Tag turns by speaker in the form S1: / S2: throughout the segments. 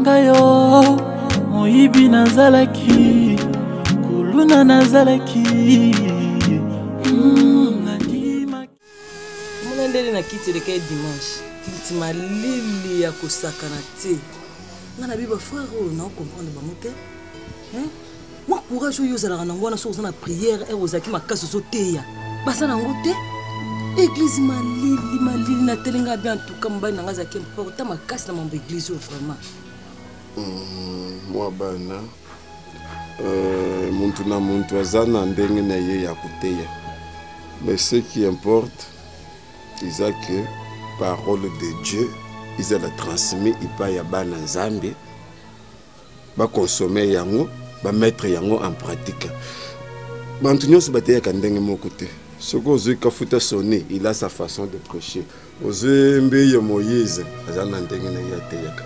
S1: ngai o moyibi nazalaki kuluna nazalaki
S2: hmm, mona ndele na kiti eleka ye dimanche kiliti malili ya kosakana te ngai nabi bafrere oyo nao comprendre bango te Wa courage oyo ozalaka nango wana soki oza na prière ere ozalaki makasi ozoteya baza nango te eglize malili malili natelenga bien antuka mobali nanga azalaki importa makasi na mambo eglize oyo vraiment hmm, mwa
S3: bana euh, muntu na muntu aza na ndenge na ye ya koteya mais ce qui importe eza que parole de dieu ezala transmis epai ya bana nzambe ba consommer yango ba mettre yango en pratique bantu nyonso bateyaka ndenge moko te soki ozwi kafuta soni il a sa façon de prêcher ozwi mbiye moïse aza na ndenge na ye ateyaka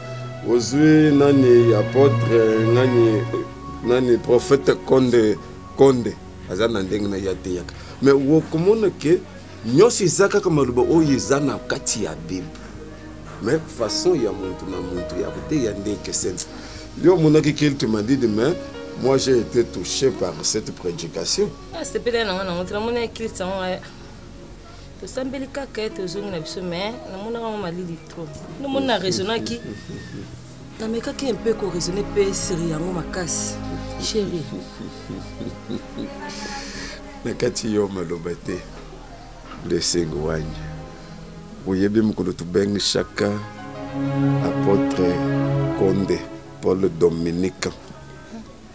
S3: ozwi nani apotre nani nani prophète konde konde aza na ndenge na ye ateyaka mais okomona ke nyonso eza kaka maloba oyo eza na kati ya bible mais façon ya muntu na muntu ya koteya nde ekeseni yo omonaki quelque madide mais moi j'ai été touché par cette prédication asepeli ah, na nga
S2: nango te namoni ekilisi yango nga tosambeli kaka ete ozongi na biso mais namonaka yango malili trop nomoni na raisonnaki namekaki un peu koraisonne mpe siri yango makasi chéri
S3: na kati yo maloba te blessing wanya oyebi mokolo tobengi chaka apotre konde paul dominique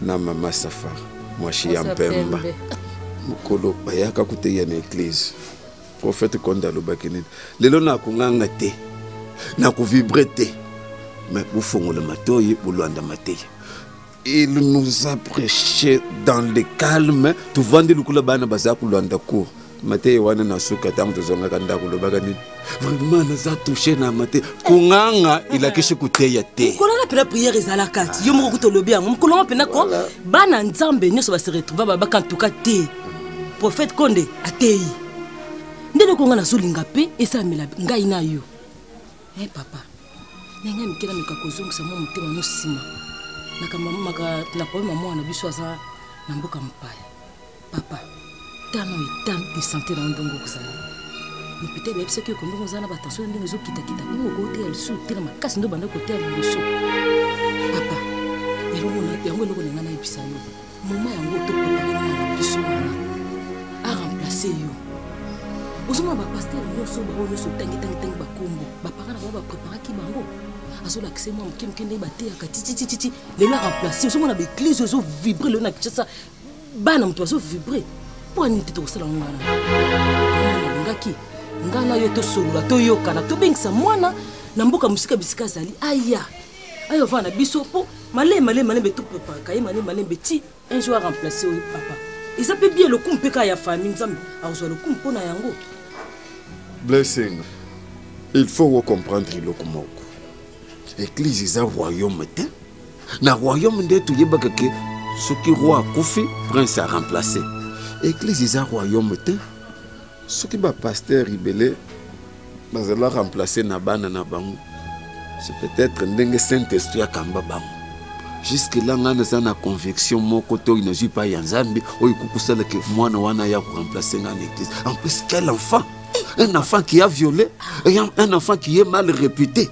S3: na mama safar mwasi ya mpemba mokolo bayaka koteya na eglize Prophète Konde alobaki nini? Lelo na kunganga te, na kuvibre te, mais bofongola matoyi, bolwanda mateya. Il nous a prêché dans le calme, tuvandi lukula bana baza kulwanda cours mateya wana na suka ntango tozongaka ndako olobaka nini vraiment naza touche na mateya konganga elakisi koteya te mokolo wana mpena priere
S2: ezalaka ti yo moko kuta olobi yango mokolo wana mpena ko bana nzambe nyonso baseretrouva babaka ntuka te prophète konde ateyi nde eloko ngai nazolinga mpe esalamela ngai na yo e eh, papa na ngai mike nameka kozongisa mwa motema no nsima na problème ya mwana na biso aza na mboka mopaya papa tano etano de sante na yo ndongo okozala mais peut-être nayebisaki oko ndongo oza na batension na ndenge ezokitakita ndenge okoteya lisusu otela makasi nde obanda koteya liboso papa yango eloko na ngai nayebisa yo mama yango tokokaki mwana na biso wana aremplace yo ozomona bapastere nyonso bango nyonso otangi tangi tangi bakombo bapara na bango bapreparaki bango azolakisa ye mwa moke moke ndenge bateyaka tititititi lelo aremplace ozomona baeglise oyo ezovibre lelo na kinshasa bana moto bazovibre mpo ya nini te tokosala ngo wana nalingaki ngai na yo tosolola toyokana tobengisa mwana na mboka mosika bisika azali aya ayo vana biso po male male male betu papa kaye male male beti un jour remplacer oui papa eza pe bien lokumu pe ka ya famille nzambe akozwa lokumu pona yango
S3: blessing il faut ko comprendre eloko moko eglise eza royaume te na royaume nde toyebaka ke soki roi akufi prince a remplacer eglise eza royaume te soki ba pasteur ibele bazala remplacer na bana na bango c'est peut-être ndenge saint esprit akamba bango jusque là ngai naza na conviction moko to oyo nazwi epai ya nzambe oyo ekokosala ke mwana wana ya koremplace ngai na église en plus quel enfant un enfant qui a violé un enfant qui est mal réputé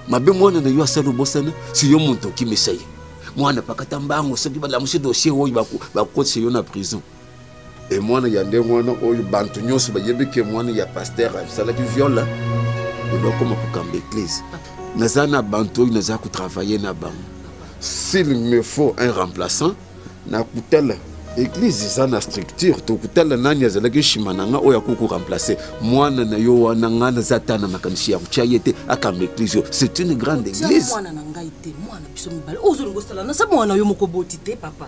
S3: mabe mwana na yo asali obosana si yo moto okimisa ye mwana pakata mbango soki balamusi dossier oyo bakotisa yo na prison e mwana ya ndenge wana oyo bantu nyonso bayebi ke mwana ya paster asalaki viole ebakoma kokamba eglise naza na bantu oyo naza kotravaille na bango s'il me faut un remplaçant nakutala eglise eza na structure tokutala nani azalaki nsima na nga oyo akoki koremplace mwana na yo wana ngai naza ata na makanisi ya kotya ye te akamba eglise oyo c'est une grande église mwana na ngai
S2: te mwana biso mibale ozolinga osala na sa mwana yo moko boti te papa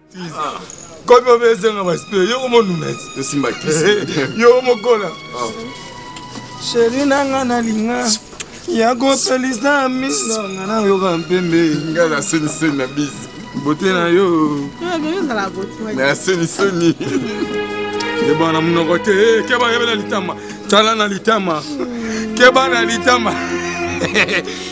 S4: komi obe ezanga baspire yoko monuneti tosimba kisi
S3: yoko
S4: mokola sheri na nga nalinga ya kopelisa miso nga nayoka mpembe nga na seniseni
S3: na bizi bote na yo
S4: na seniseni keba na monoko te eh, keba yebela litama tala na litama keba na litama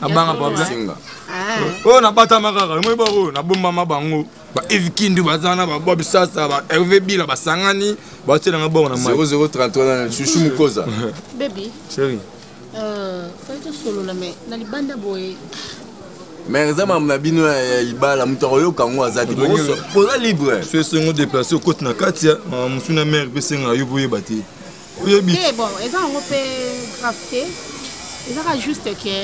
S4: abanga problème singa oyo nabatama kaka omoi ba oyo nabombama bango ba eve kindu baza na babob sasa ba herve bila basangani batielanga bongo na mai 0033 chuchu mukoza baby chéri euh
S3: fai tosolola mais
S2: na libanda boye mais
S3: eza mamu na bino ya libala moto akoyoka yango aza te boza libre so esengo deplace
S4: okoti na kati ya mosuni ya mare mpe esenga yo boyeba te oyebi te bon eza yango
S2: mpe grave te ezaka juste ke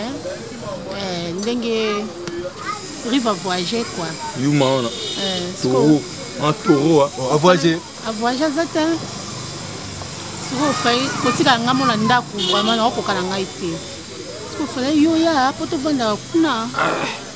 S2: eh, ndenge rive avoyage kua yuma wana
S4: eh, toro en toro avoyage avoyage aza te
S2: soki ofai kotika nga mona ndako vraiment naokoka na ngai te soki ofalai yo ya mpo tovandaka kuna ah.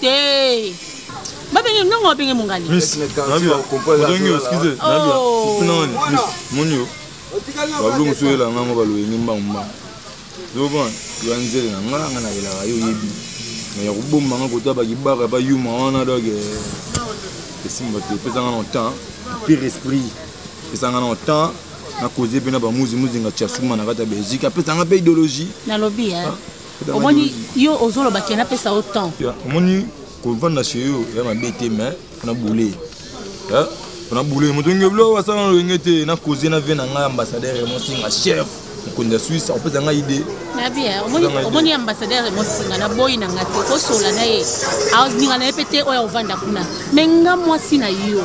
S2: te babenge
S4: ndongo babenge mongali moni yo bablo mosusu oyela ngango baloyenge mbangu mbangu zobona ya nzele na ngai ngai nayelaka yo oyebi me ya kobomba ngai kota bakibaka bayuma wana donc eh, esimba te epesa ngai na temps pire esprit epesa ngai na temps na cause mpe na bamuzimuzi nga tiasuma na kati ya belgique apesa ngai mpe idéologie nalobi eh? ah.
S2: omoni yo ozoloba ke napesa yo temps omoni
S4: kovanda chez yo ya mabe te mais na boule na boule moto nge bilo asala lolenge te na cause na vie na ngai ambassadeur emosinga chef mokonzi ya swisse akopesa ngai ide
S2: omoni ambassadeur emosinga na boyi na ngai te kosola na ye alinga na ye mpe te oyo akovanda kuna me nga mwasi na yo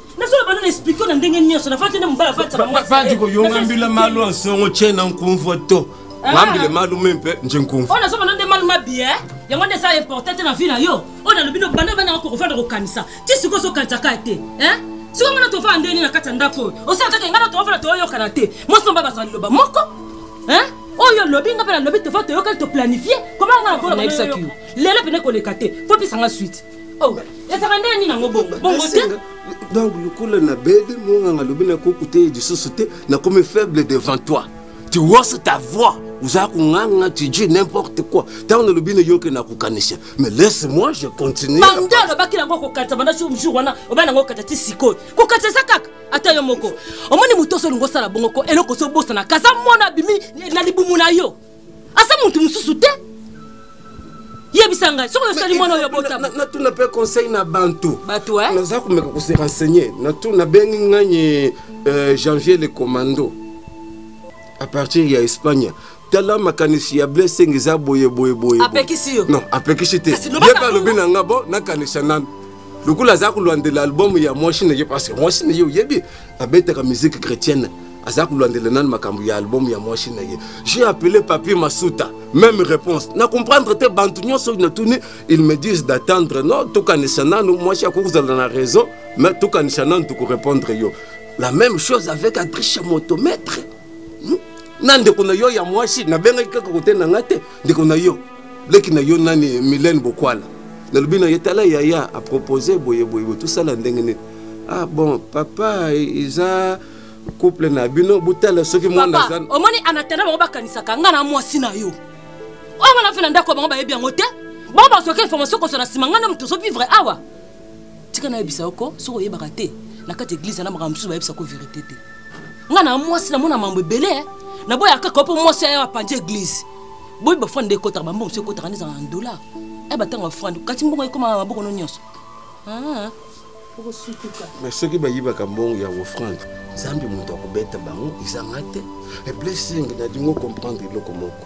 S2: nazolo bana na explike na ndenge nyonso nafati nde mobali afatisabandi koyongambila
S3: malu ansongo tie na nkumvua to ah. mambile malu me mpe nje nkumvu oyo nazobana nde malu
S2: mabie eh? yango nde eza importe te na vi na yo oyo nalobi no banda bana yako kofanda kokanisa ti sikoyo ozokanisa kaka te eh? sikoyo ngana tofana ndenge nini na kati ya ndako oyo osala kaka ngana tofana toyokana te mwasi nomba bazala liloba moko eh? oyo olobi nga mpe nalobi tova toyokani toplanifie koma nga nakola lelo mpene koleka te fo pesa nga suite Oh, ezaka nde nini yango bongo bongo te donc lokola
S3: nabeli monganga alobi nakokuta ye lisusu te nakomi faible devant toi tu wose ta voix oza konganga tu dis n'importe quoi ntango nalobi nayoki nakokanisa mais laisse moi je continue bande alobaki nango kokatisa banda jour wana obai nango okatisa ti sikoyo kokatisa eza kaka ata yo moko omoni moto oso olingi osala bongo ko eloko oso obosana kaza mwana abimi na libumu na yo aza motu mosusu te yebisa ngai soki osali mwana oyo botama natuna mpe conseil na bantu bato eh? naza komeka kose renseigner natuna bengi ngai euh, janvier le commando à partir ya espagne tala makanisi ya blessing eza boye boye boye apekisi yo non
S2: apekisi te
S3: yeba alobi na nga bo nakanisa nanu lokola aza kolandela album ya mwasi na ye parce que mwasi na ye oyebi abetaka musique chrétienne aza kolandela nani makambo ya album ya mwasi na ye j'ai appelé papier masuta même réponse na comprendre te bantu nyonso natuni ils me disent d'attendre no tokanisa nanu mwasi akoki kozala na raison mais tokanisa nanu tokorépondre yo la même chose avec adriche motomètre hmm? na ndeko na yo ya mwasi nabengaki kaka kote na ngai te ndeko na yo leki na yo nani milene bokwala nalobi na ye tala yaya apropose boye boye boye tosala ndenge nini ah bon papa eza couple na bino botala soki mwana aza omoni anatanda bango
S2: bakanisaka ngai na mwasi na yo oyo wana mpe na ndako bango bayebi yango te bango bazoki information kosana nsima ngai na moto ozovivre awa tika nayebisa yo ko soki oyebaka te na kati ya eglize na makambo mosusu bayebisa ko verité te ngai na mwasi namona mambo ebele eh. naboya kaka mpo mwasi aya apanzi eglize boyi bafrande nde ekotaka bambongo mosusu ekotaka nde ezalaka na dollar aya batanga bafrande kati mbongo ekoma maboko no nyonso ah, mais soki bayibaka
S3: mbongo ya ofrande nzambe moto akobeta bango ezanga te eblessing na dingo comprendre eloko moko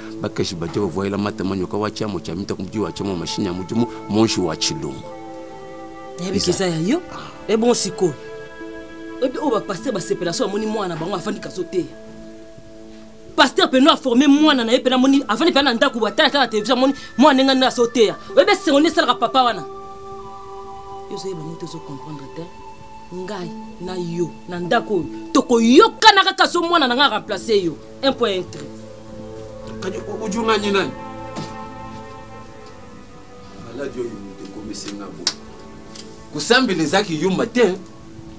S3: bakashi baja bavwaila mata manyoka wa chamo cha mita kumji wa chamo mashini ya mujumu monshi wa chilungu
S2: yabikisa ya yo ah. ebon sikoyo oyebi oyo bapaster basepela so amoni mwana bango afandi kaso te paster mpena aforme mwana na ye mpena amoni afandi mpena na ndako batala ata na televizio amoni mwana ndenge nde aso teya oyebi esengo nde esalaka papa wana yo ozoyeba moto ozo comprendre te ngai na yo na ndako oyo tokoyokana kaka so mwana na ngai remplace yo un point un trait
S3: kadi ojunga nyi nani maladi oyo moto ekomisi nga bo kosambela eza kiyuma te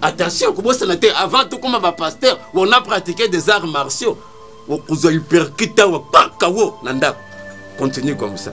S3: attention kobosana te avant tokoma bapasteur on a pratiqué des arts martiaux okozwa hyperkit awa paka wo na ndako continue comme ça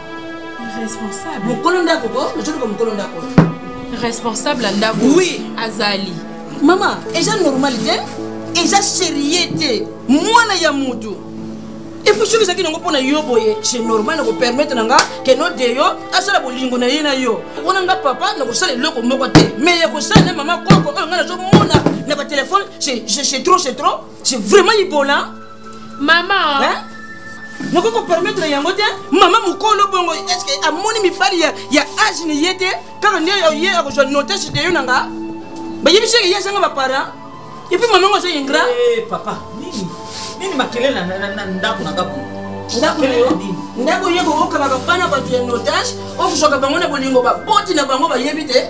S2: responsable
S5: mokolo ndako ko ozoluka
S2: mokolo ndako responsable
S5: ya ndako oui azali mama
S2: eza normal te eza serie te mwana ya motu
S6: epuis soki ezalaki nango mpo na yo boye se normal na kopermettre na nga keno de yo asala bolingo na ye na yo wana nga papa na kosala eloko moko te mais ya kosala na mama koko oyo nga nazomona na batelefone se trop se trop je vraiment ibola mama
S5: hein?
S6: nakoki kopermettre yango te mama mokolo bongo estce amoni mibali ya, ya age na ye te kaka nde ye akozwa notage de yo na nga bayebisi ye azanga baparent epuis mama yango aza ingrat eh, papa
S7: nini nini makelele na ndako na nga ndako
S6: ye kokokabaka bana bato ya notage okozwaka bango na bolingo baboti na bango bayebi te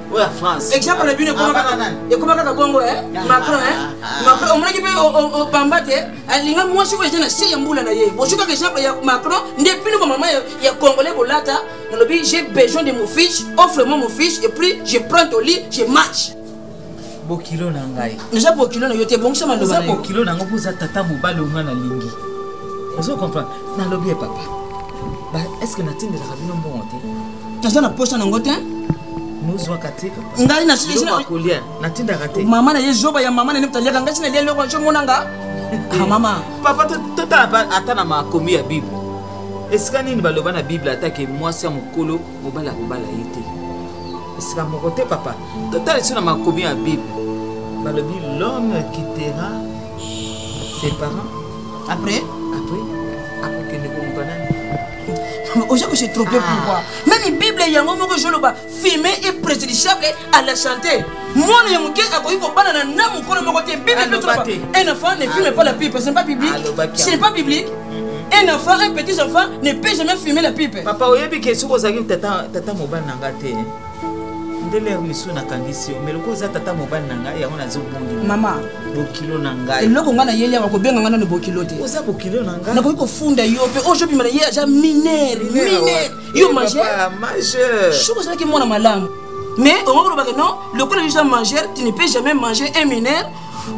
S7: oya france exemple na bino
S6: ekoma kaka ekoma kaka bongo e macron e macron omonaki mpe opamba te alinga mwasi oyo eza na se ya mbula na ye bozwi kaka exemple ya macron nde bino bamama ya congolais bolata nalobi j'ai besoin de mon fiche offre moi mon fiche et puis je prends ton lit je match bokilo
S7: na ngai eza bokilo na yo te
S6: bongisa maloba eza bokilo na ngai mpo oza
S7: tata mobali onga nalingi ozo comprendre nalobi ye papa est ce que natindelaka bino mbongo te naza na posa nango te
S6: nozwaka
S7: te ngai nakolia
S6: natindaka
S7: te mama na ye zoba ya mama
S6: na ne taliaka ngai sinalia eloko naso monanga ah, mama papa totala
S7: ata na makomi ya bible esika nini baloba na bible atake mwasi ya mokolo mobali akobala ye te esika moko te papa totala biso na makomi ya bible balobi l'homme quittera ses parents après après akokende koluka nani oza ko se trompe
S6: ah. pourquoi meme bible yango moko ezoloba fime e préjudiciable à la santé mwana ya moke akoki kobanana na mokolo moko te bible mpe un enfant ne filme pas la pipe ce n'est pas biblique ce n'est pas biblique un enfant, un petit enfant ne peut jamais fumer la pipe. Papa, oyebi ke soki ozalaki
S7: tata tata mobali na nga te. ndele ya misu nakangisi yo meloko oza tata mobali na ngai yango nazobongi mama bokilo
S6: na
S7: ngai eloko ngai nayeli awa
S6: kobenga ngai nano bokilo te oza bokilo na ngai nakoki
S7: kofunda yo mpe
S6: oyo ozobima na ye aza minere minere yo majeur majeur soki ozalaki mwana malamu mais okoki kolobaka non lokola yo oza majeur tu ne peux jamais manger un minere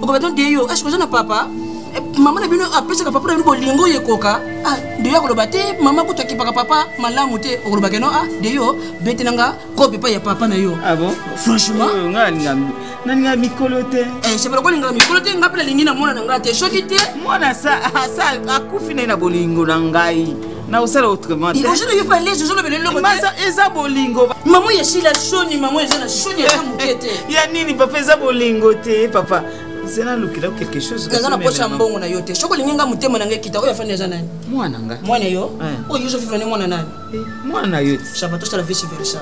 S6: okoba ton deyo est ce que oza na papa eh, mama na bino apesaka papa na bino bolingo oyo ekoka ah, deyo akoloba te mama kutu akipaka papa malamu te okoloba keno ah, deyo betela nga kope epai ya papa na yo ah franchement
S7: nalinga mikolo te eh, sepela kolingaka mikolo
S6: te ngai mpe nalingi na mwana na ngai te soki te mwana
S7: akufi na ye na bolingo na ngai nakosala autrement ozona yo pale lezo ozolobela
S6: eloko te eza bolingo
S7: mamo ya shila
S6: shoni mamo eza na shoni eza moke te ya nini papa eza
S7: bolingo te papa zela lukela quelque chose naza na poche ya mbongo na
S6: yo te soki olingi nga motema na ngai kita oyo afandi eza nani mwana nga mwana yo
S7: oyo
S6: yo ozofifana mwana nani mwana na yo te
S7: shabatosa la vice versa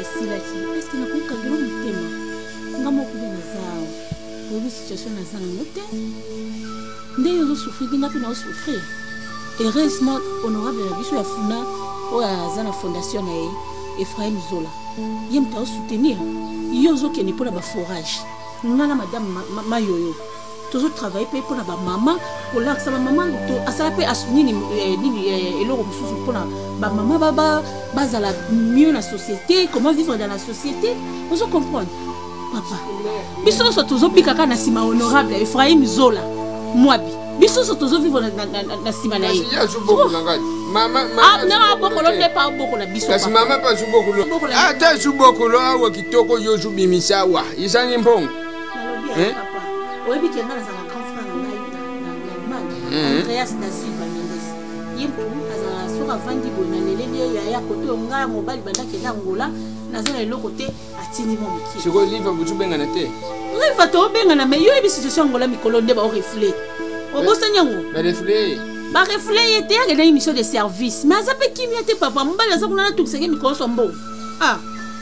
S8: esilaki
S5: eske nakokangela motema nga moko nde naza awa oyebi situation naza nango te nde yo ozosouffrir te nga mpe naosouffrir heureusement honorable na biso ya funa oyo aza na fondation na ye efraim zola ye moto aosoutenir yo ozokende mpo na baforage nga na madame mayoyo ma, ma tozo travaille mpe mpona bamama kolakisa bamama to asala mpe nini eh, nini eh, eloko mosusu mpona bamama bazala mieux na société comment vivre dans la société ozo comprendre papa biso nyonso tozobika kaka na nsima honorable ephraim zola mwabi biso nyonso tozovivre na nsima na ye abokolo nde pa abokola
S8: bisoata zubokolo awa kitoko yo zubimisa awa ezangi mbongo nalobi ya papa
S5: oyebi ke nga nazala grand frère na ngai na allemagne andreas da silva mendes ye mpomu azala soki avandi boye na leleli ye yaya koto yo ngai ya mobali bandakenda angola naza na eloko te atindi mwa mokie sikoyo liva butu bengana
S8: te liva toobengana
S5: mai yo yebi situation angola mikolo nde baorefle obosani yango barefle barefle ye te akendaki mission de service mai aza mpe kimia te papa mobali aza kuna natokisaki mikolo so mbongo ah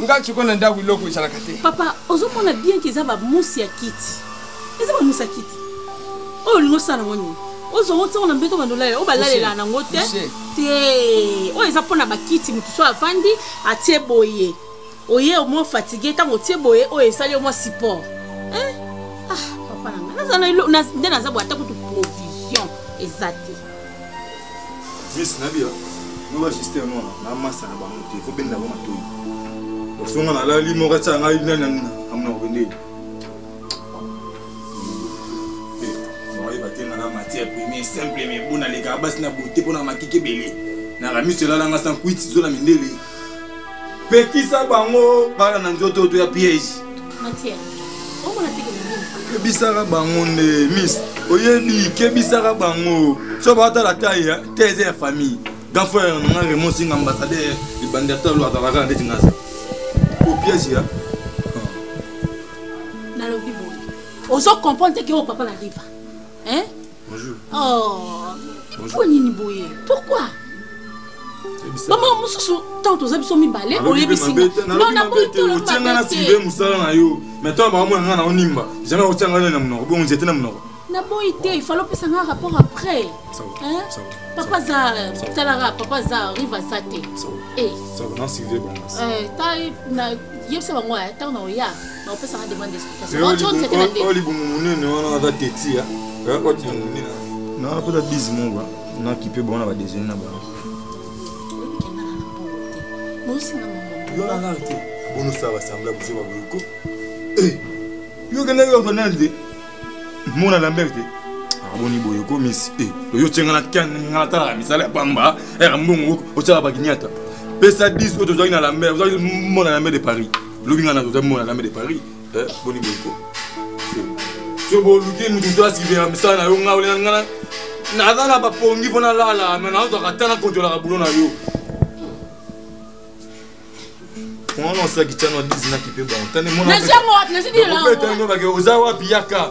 S8: nga sikoyo na ndako eloko ezalaka te papa ozomona
S5: bien ke eza bamusi ya kiti eza bamusi ya kiti oyo olingi osala yango nini ozwa ngo ntango na mbeto bandolale oyo balalela nango te te oyo eza mpo na bakiti moto so avandi atie boye oye omwa fatigue ntango otie boye oyo esali omwa support eh? ah, papa nanga nde naza bwa ata kutu provision eza te
S4: Miss Nabila, nous va juste un nom, la masse à la banque, il faut bien l'avoir tout. Donc si on a la limo rata ngai nana amna wende. Moi ba tena la matière première simple mais bon na les gars bas na beauté pour na makike belé. Na la miss la la ngasa kuiti zola mindele. pekisa bango bana na nzoto oyo to ya piège
S5: kebisaka bango
S4: nde miss oyebi kebisaka bango so baotala tai te eza ya famille grand frère nanga raymond singa ambassadeur libandi ata lo azalaka kaka ndeti ngaza o piège ya nalobi
S5: boye ozo comprendre te ke oyo papa na liva hein Bonjour. Oh. Bonjour. nini boye pourquoi mama mosusu ntango toza biso mibale oyebisingaotianga na sive mosala
S4: na yo mai ntango bakamona ngai na onimba jamai otianga na monoko bongo nzete na monoko naboyi te ifale
S5: opesa ngai rapport après papa aza talaka papa aza rive aza te eh.
S4: eh,
S5: yebisa bango ntango na oya oyo libumu monene
S4: wana aza tetia yakoti ya monene na wana mpota bizi moko nakipe bango na badesine na bango bonosala basambla boze baboyoko yo okendaki bafanal te mona lambert te aboni boye okomisi eh, oyo tye nga natalaka misala ya pamba era eh, mbongo otyaka bakinyata pesa 10 oyo tozwaki na lambert ozwaki mona lambert de paris lobi nga na toza mona dame de paris eh, boni boyiko so boluki mutu to asivela misala na yo nga olena nga naza na bapongi mpo nalala me nazwaka ata na kontrolaka bulo na yo mwana osalaki cano 10 nakipe bango tane mwana
S5: oza
S4: wapi yaka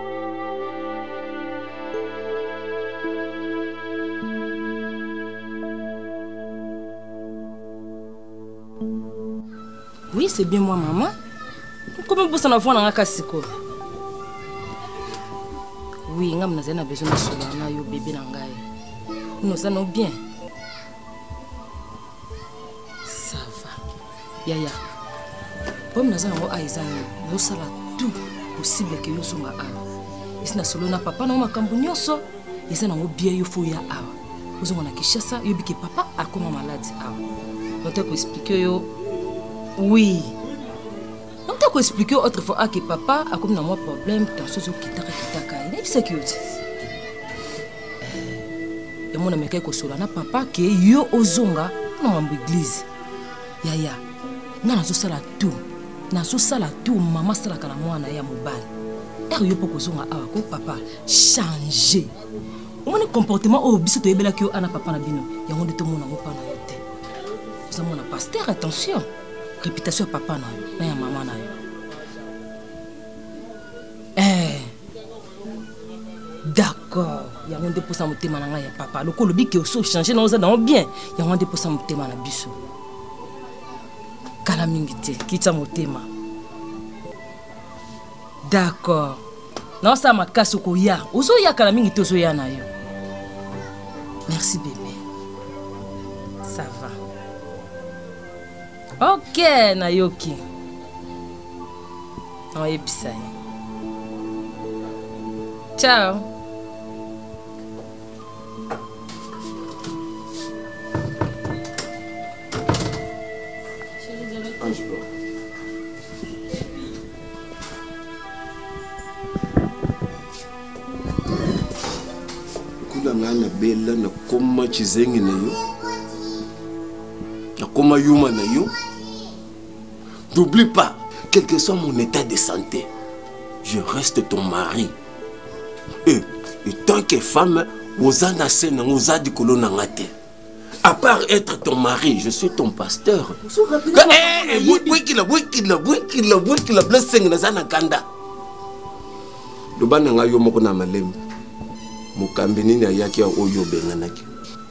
S2: Oui, c'est bien moi, maman. Comment vous en avoir dans la cassiko Oui, ngam nazali na besoin de sola na yo bébé na ngai. Nous allons bien. yaya problème naza nango a eza nini nazosala tout possible ke yo ozonga awa esi na solo na papa nango makambo nyonso eza nango bie yo fo ya awa ozonga na kinshasa oyebi ke papa akoma maladi awa note koexplike yo oui note koexplike yo autre fois ake papa akomi na mwa problème tension ezokitaka kitaka ye nayebisaki yo te yango namekaki kosola na papa ke yo ozonga na mambo eglize yaya nga nazosala tour nazosala tour mama asalaka na mwana ya mobali ere yo mpo kozonga awa ko papa change omoni comportement oyo biso toyebelaki yo ana papa na bino yango nde tomona ngo mpa na yo te oza mwana paster attention réputation ya papa na yo na ya mama na yo d'accord yango nde mposa motema na ngai ya papa lokola olobi ke osi ochange na oza nango bien yango nde mposa motema na biso kala mingi te kitya motema d'accord naosala makasi okoya ozoya kala mingi te ozoya na yo merci bebe ça va Ok, nayoki. Oyebisa ye. Ciao.
S3: na ngai na bela nakoma kizengi na yo nakoma yuma na yo n'oublie pas quel que soit mon état de santé je reste ton mari e etant que femme oza na se nango oza likolo na nga te à part être ton mari je suis ton pasteur bwekila bwekila bwekila bwekila blessing naza na kanda loba na ngai yo moko na malembe mokambi nini ayaki oyo obenganaki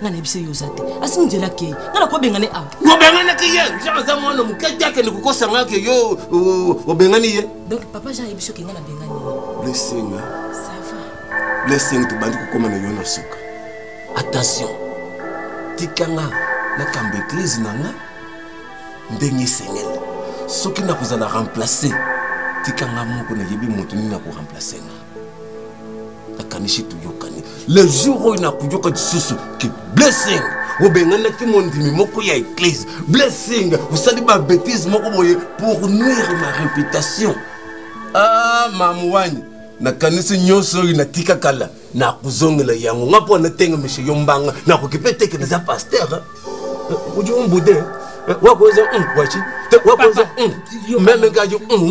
S2: nga na biso yo oza te asi nzela kei nga na kobengane awa obenganaki ye
S3: jean aza mwana moke te akende kokosa nga ke yo obengani ye donc papa jean ayebi soki
S2: nga na bengani ye blessing blessing
S3: tobandi kokoma na yo na suka attention tika nga nakambo eglize na nga ndenge esengeli soki nakozala remplace tika nga moko nayebi moto nini akoremplace nga nakanisi toyokani le jour oyo nakoyoka lisusu ke blessing obenganaki mondimi moko ya eglise blessing osali babetise moko boye pour nuire ma réputation ah mamwani nakanisi nyonso oyo natika kala nakozongela yango nga mpo natenga mishe yo mbanga nakoki mpe teke naza paster eh, eh, ojo mbude eh, wakoza hmm, wachi wakoza hmm, meme ngajo hmm.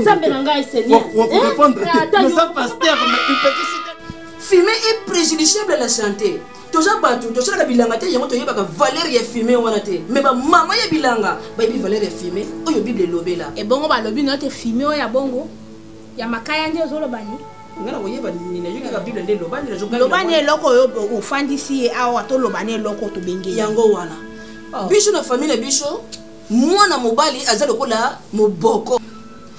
S6: nzambe na ngai seigneurnoza paster fume est préjudiciable à la santé toza bato tosalaka bilanga te yango toyebaka valeur ya fume wana te me bamama ya bilanga bayebi valeur ya fume oyo bible elobela ebongo balobi nayo te
S5: fume oyo ya bongo ya makaya nde ozoloba ni nga na koyeba nini
S6: nayoki kaka bible nde loba nde nazoka loba na eloko oyo
S5: ofandisi ye awa toloba na eloko tobenge yango wana
S6: oh. biso na famille na biso mwana mobali aza lokola moboko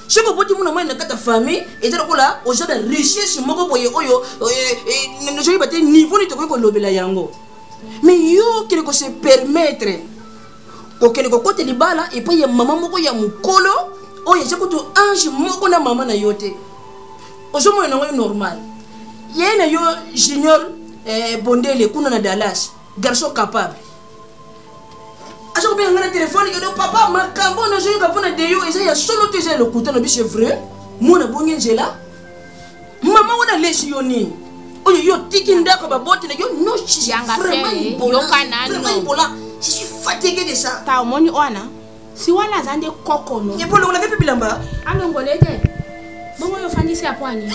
S6: soki oboti mwana mobali na kati ya famille eza lokola oza na richesse moko boye oyo eh, eh, nazoyeba te niveau nini tokoki kolobela yango mais yo kende kose permettre kokende kokota libala epai ya mama moko ya mokolo oyo eza kutu ange moko na mama na yo te ozomona nango yo normal ye na yo junior eh, bondele kuna na dallas garçon capable aza kobenga ngai na telefone edo papa makambo oyo nazoyoka mpo na deyo eza ya solo to eza ya lokuta na biso vrai mwana bongi nzela mama wana alesi yo nini oyo yo otiki ndako baboti na yo noyokanaaibola
S5: je suis
S6: fatigué de ça ta omoni wana
S5: si wana aza nde kokono epolongola mpe bilamba
S6: alongole te
S5: bongo oyo ofandisi ya pwani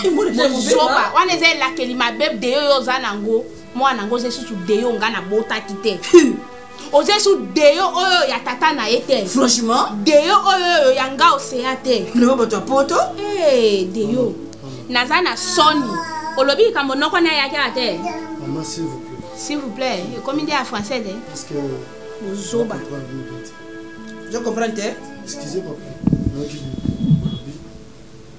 S5: zoba wana eza elakeli mabe de yo yo oza nango mwana yango oza esusu de yo nga nabotaki te oza esu deyo oyo ya tata na ye te franchement deyo
S6: oyo
S5: ya nga osea te leo bato ya poto
S6: hey, eh, deyo
S5: naza na soni olobi likambo noko na eyakela te mama s'il vous
S9: plaît s'il vous plaît ekomi
S5: nde ya français te parce que
S9: bozoba je comprends
S6: te excusez
S9: papa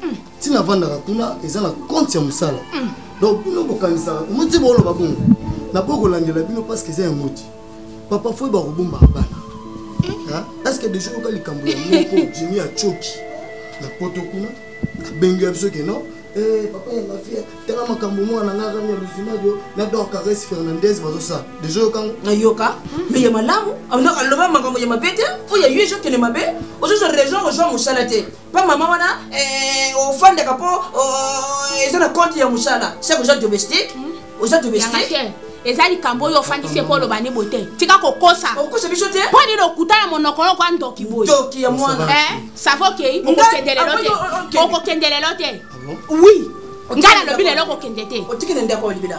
S9: hmm. ntina avandaka kuna eza na konte ya mosala hmm. donc bino bokanisaka omoti booloba bongo naboyi kolandela bino parceke eza ya moti papa foi bakobombaka bana hmm. estce deja oyoka likambo ya moko jimi acoki na poto kuna abengi ya biso ke non Eh, papa ya mafia tala makambo mwana na ngai rami ya luzimadio na dor cares fernandez bazosala deja yokango nayoka me ya
S6: malamu aloba makambo ya mabe te oyo ya yo ezokende mabe ozozwa raison ozwa mosala te mpo mama wana eh, ofandaka mpo oh, eza na compte ya mosala seke oza domestique hmm? oza domestique eza likambo
S5: oyo ofandisi mpo oloba ni bote tika kokosa okosa biso te mpo
S6: nini okuta na monoko
S5: yoko ya ndoki boye ndoki ya mwana eh,
S6: savo okei
S5: okokende lelo te okokende lelo te wi ngai nalobi lelo okokende te otiki na ndako libela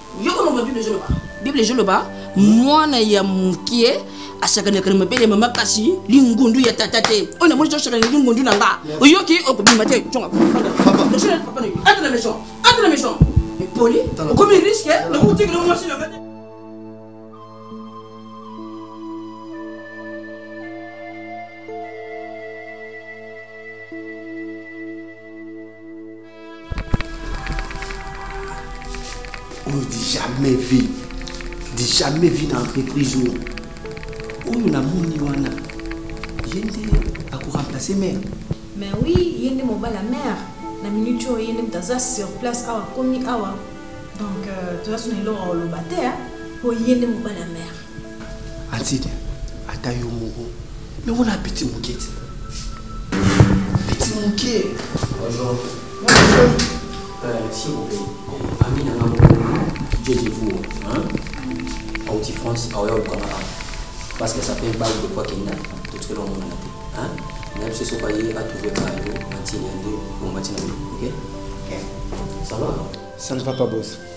S6: yoko mama bible ezoloba bible ezoloba mwana ya mokie asakanaka na mabele ya mama kasi lingundu ya tata te oyo namoni tosakana lingundu na nga oyoki okobima te conga ata na maison ata na maison epoli okomi riske nakokotikela mwasi na nga te
S10: oyo di jamais vie di jamais vie na entreprise oyo oyo namoni wana ye nde akoremplace mare mais oui
S11: ye nde mobali ya mare na minute oyo ye nde moto aza sur place awa akomi awa donc euh, toza sona eloko oloba te mpo ye nde mobali ya mare antide
S10: ata yo moko me wana apeti moke ti peti moke ami nanga moko jejevu auti france aoya olukanga awa parce que ça fait balle de poids kenda totikela omonana te nayebi se soki aye atrouve kaka yo matine nde bongo matina ok ça va ça ne va pas boss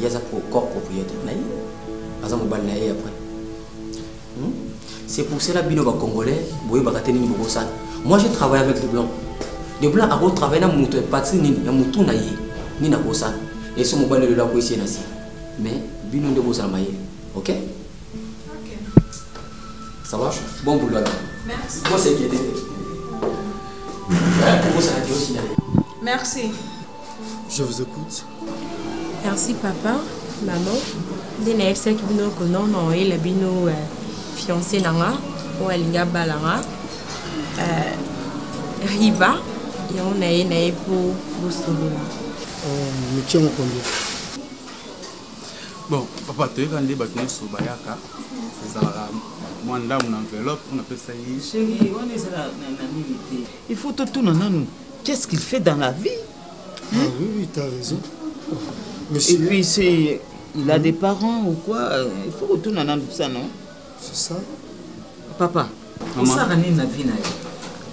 S10: ye aza corps propriétaire na ye aza mobali na ye après hmm? c'est pour cela bino bacongolais boyebaka te nini bokosala moi je travaille avec de blanc de blanc akotravaille na moto ya patrie nini ya motu na ye nini akosala eso mobali lelo akwesi ye na si mais bino nde bozala mayele ok ça va bon boulot alors merci
S11: bon
S10: c'est guédé
S11: merci je vous
S9: écoute Merci
S12: papa, maman. Nde nayebisaki bino ko non non oyela bino euh, fiancé na nga oyo alingi abala nga euh, riba yango na ye na ye mpo bosolola oh,
S9: mitie mokondi
S13: bon papa toyeka nde bato nyonso bayaka ezalaka mwa ndambo na enveloppe oyo napesa ye
S7: il faut totuna nanu qu'est ce qu'il fait dans la vie Ah hmm?
S9: oui, oui, t'as raison. Monsieur...
S7: Et puis, c'est... Il a mmh. des parents ou quoi euh, Il faut retourner dans tout ça, non C'est
S9: ça. Papa, on
S7: s'est ramené la vie,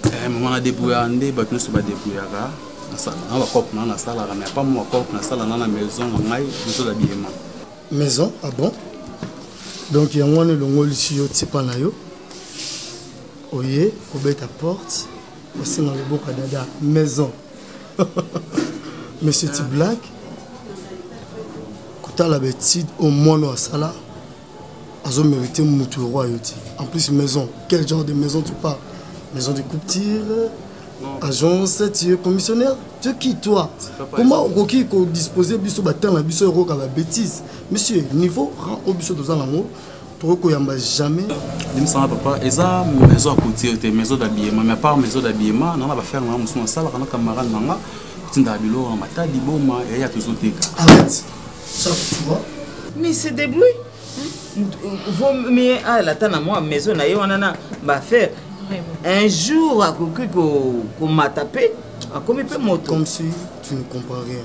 S7: eh, maman
S13: na débrouillard nde bato nyonso badébrouillaka na bacope na nasalaka mais apa mwa bacope nasala na na maison na ngai biso na biyema maison
S9: ah bon donc yango wana elongolisi yo tipa na yo oye kobeta porte osenga loboko ya dada maison mais c'est une blague kotala betide oyo mwana oyo asala azo mérite motu yango ayo te en plus maison quel genre de maison tu parles maison de couture agence tu es commissionnaire tu es qui toi comment okoki kodispose biso batanga biso ekoyoka babétise monsieur niveau rang oyo biso toza nango toko koyamba jamais limisanga papa
S13: eza maison ya couture te maison d'habillement mais apart maison d'habillement nanga bafere nanga mosusu nasalaka na camarade nanga kotindaka biloko na matadi boma yaya tozoteka arrête
S9: ça tu vois mais c'est
S7: débrouille vaut mieux alata na mwa maison na ye wana na bafere un jour akoki komata mpe akomi mpe moto comme si tu ne
S9: comprends rien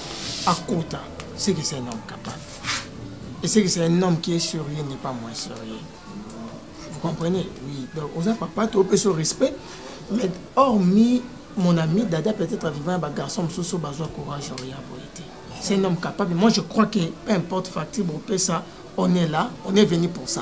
S14: akota c'est que c'est un homme capable et c'est que c'est un homme qui est sérieux n'est pas moins sérieux vous comprenez oui donc oza papa topesa o respect mais hormis mon ami dada peut-être vivant ya bagarçon mosusu bazwa courage oyo ya boye te c'est un homme capable moi je crois que peu importe facture bopesa on est là on est venu pour ça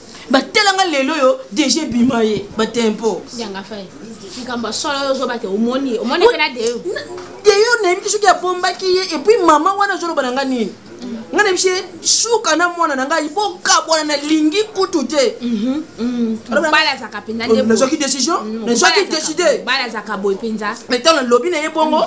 S6: batelanga lelo oyo deje bima ye batempo likambo
S5: ya solo yo ozobate omoni omoni mpe na deyo deyo nayebi te
S6: soki abombaki ye epuis mama wana azoloba na ngai nini ngai nayebi se suka na mwana na ngai bokabwana nalingi kutu te mhm,
S5: mhm. nazwaki décision
S6: nazwaki décide
S5: mais ntango nalobi na ye
S6: bongo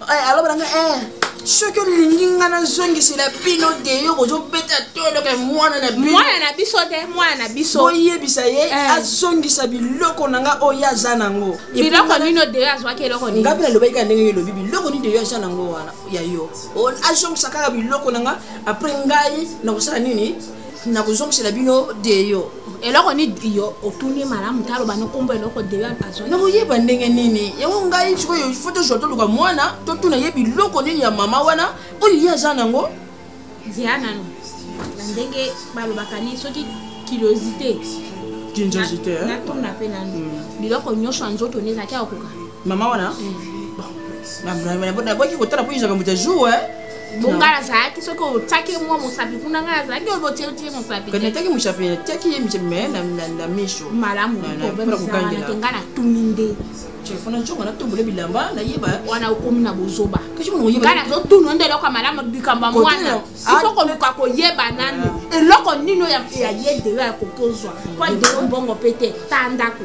S6: eh, alobela nga eh, soki olingi nga nazongisela bino deyo bozobeta toloka mwana na bino mwana na biso te mwana
S5: na biso boyebisa ye eh.
S6: azongisa biloko na nga oyo aza nango biloko nino
S5: deyo azwaki eloko nini nga mpe nalobaki kaka ndenge elobi
S6: biloko nini deyo aza nango wana ya yo azongisa kaka biloko na nga apres ngai nakosala nini nakozongisela bino deyo eloko ni yo
S5: otuni malamu te aloba nokombo eloko deyo azwa nakoyeba ndenge
S6: nini yango ngai sikoyo fo tozwa toluka mwana totuna ye biloko nini ya mama wana oyo ye aza nango zela nano
S5: na ndenge balobaka ni soki kilosite
S6: natuna mpe
S5: nano biloko nyonso ya nzoto nde ezalaki akokoka mama wana
S6: naboki kotala mpo ezaka moto ya jour bonga nazalaki
S5: soki otyaki mwa mosapi kuna ngai nazalaki obotyelotye mosapiataki mosapi natyaki
S6: ye mosapi me na miso malamu
S5: nga natuni nde telefone ncongo
S6: natombole bilamba nayeba wana okomi na bozoba
S5: nga nazotunu
S6: nde eloko ya
S5: malamu likambo ya mwana ifo koluka koyeba nani eloko nino ya ye dela ya kokozwa mpo adelo mbongo mpe te ta ndako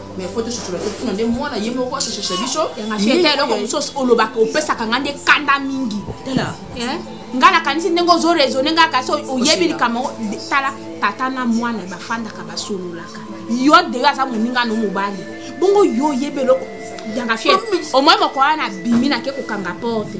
S6: mais faut tososola te kuna nde mwana ye moko asososha biso yangafie ta eloko mosusu
S5: olobaka opesaka ngai nde kanda mingi tala
S6: ngai nakanisi
S5: ndenge ozo raisonne ngai kasi oyebi likambo yango tala tata na mwana bafandaka basololaka yo deyo aza moninga no mobali bongo yo oyebi eloko yangafie omoi moko wana abimi nake kokanga porte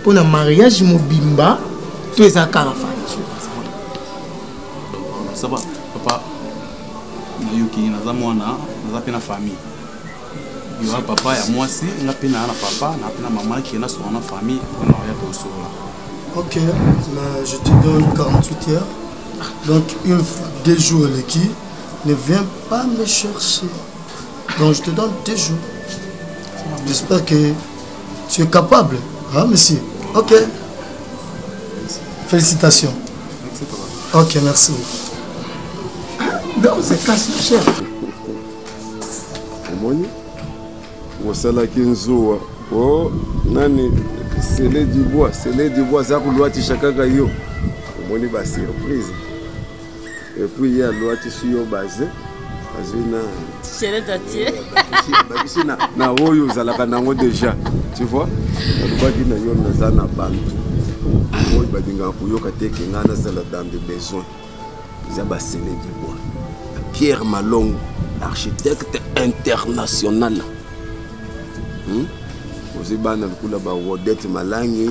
S14: mpo na mariage mobimba to eza kaka fati
S13: saba papa nayoki naza mwana naza mpe na famille yoa papa ya mwasi nga mpe naa na papa naa mpe na mama ke nasola na famille mpo na oya tosolola ok
S9: je te donne 48 heures donc une fois deux jours eleki ne viens pas me chercher donc je te donne deux jours j'espère que tu es capable hein, monsieur ok félicitations ok merci
S14: donc c'est casse cher
S3: omoni osalaki nzuwa o oh, nani sele du bois sele du bois aza kolwatisha kaka yo omoni basurprise Et puis il y a loi qui suit au basé. azwina chelete
S2: atie bakisi
S3: na oyo ozalaka nango déjà tu vois alobaki na yo naza na bantu oyo balingaka koyoka te ke ngai nazala dans de besoin eza basele du bois pierre malongo architecte international hmm? ozwi bana lokola barodete malangi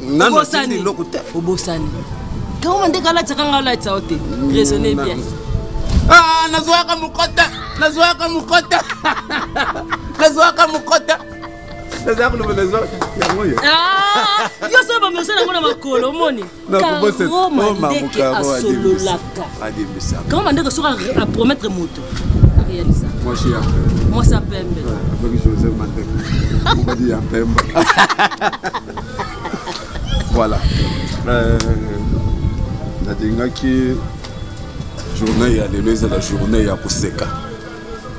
S3: nanu asili eloko te obosani
S2: kaoma nde kalataka nga olatisa yo te raisonne bien ah,
S3: nazwaka mokota nazwaka mokota nazwaka mokota naza koloba naza yango yo ah,
S2: yo soki bamersa nango na makolo omoni karoma ndeke asololaka
S3: karoma ndeke soki
S2: apromettre moto mwasi ya
S3: mwasi ya pembe
S2: akoki jose
S3: mateka mobali ya pembe voilà euh, nalingaki journée ya lelo ezala journée ya koseka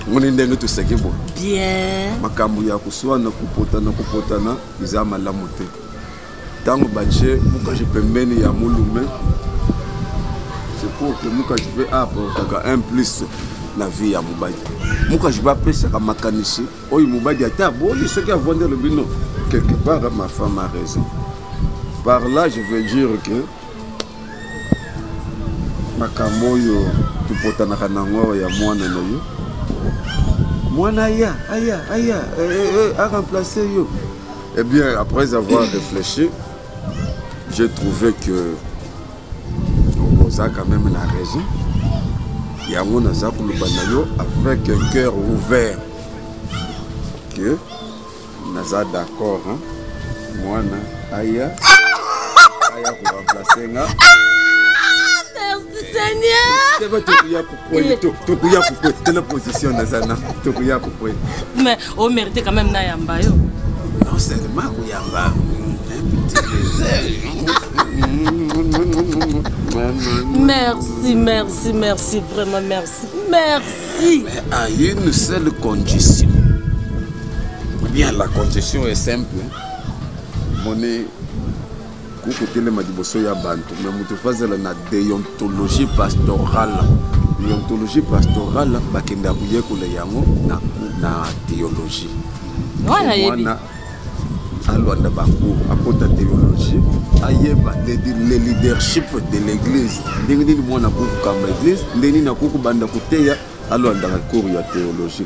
S3: omoni ndenge toseki boye bien
S2: makambo ya
S3: koswana kopotana kopotana eza malamu te ntango batie mukaji pembeni ya mulume c'est pour que mukaji mpe aportaka un plus na vie ya mobali mukaji mpe apesaka makanisi oyo mobali ata aboli soki avandi alobi no quelque part ma femme a raison par là je veux dire que makambo oyo topotanaka nango awa ya mwana na yo mwana aya aya aya eh, eh, eh, aremplace yo Eh bien, après avoir réfléchi, j'ai trouvé que Rosa quand même la raison. yango naza koloba na yo avec un cœur ouvert que naza d'accord hein? mwana aya aya koremplace nga Merci
S2: Seigneur. Oui, tokuya
S3: kokwe tala position naza na tokuya kokwe
S2: mais o mérite quand même nayamba yo non
S3: seulement koyamba
S2: Merci, merci, merci, vraiment merci, merci. Mais à une
S3: seule condition. Bien, la condition est simple. Mon Kuku telema liboso ya bantu me moto fazala na deontologie pastorale deontologie pastorale bakenda koyekola yango na, na theologie mwana alwanda bango akota theologie ayeba le leadership de l'église ndenge nini mwana akokokamba église ndenge nini akokobanda koteya alwandaka cours ya theologie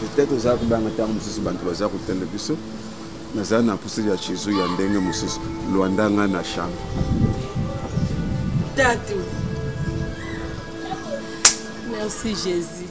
S3: peut-être oza kobanga ntango mosusu bato baza kotenda biso naza na mposa ya chezo ya ndenge mosusu lwanda nga na chambre tatu
S2: merci jésus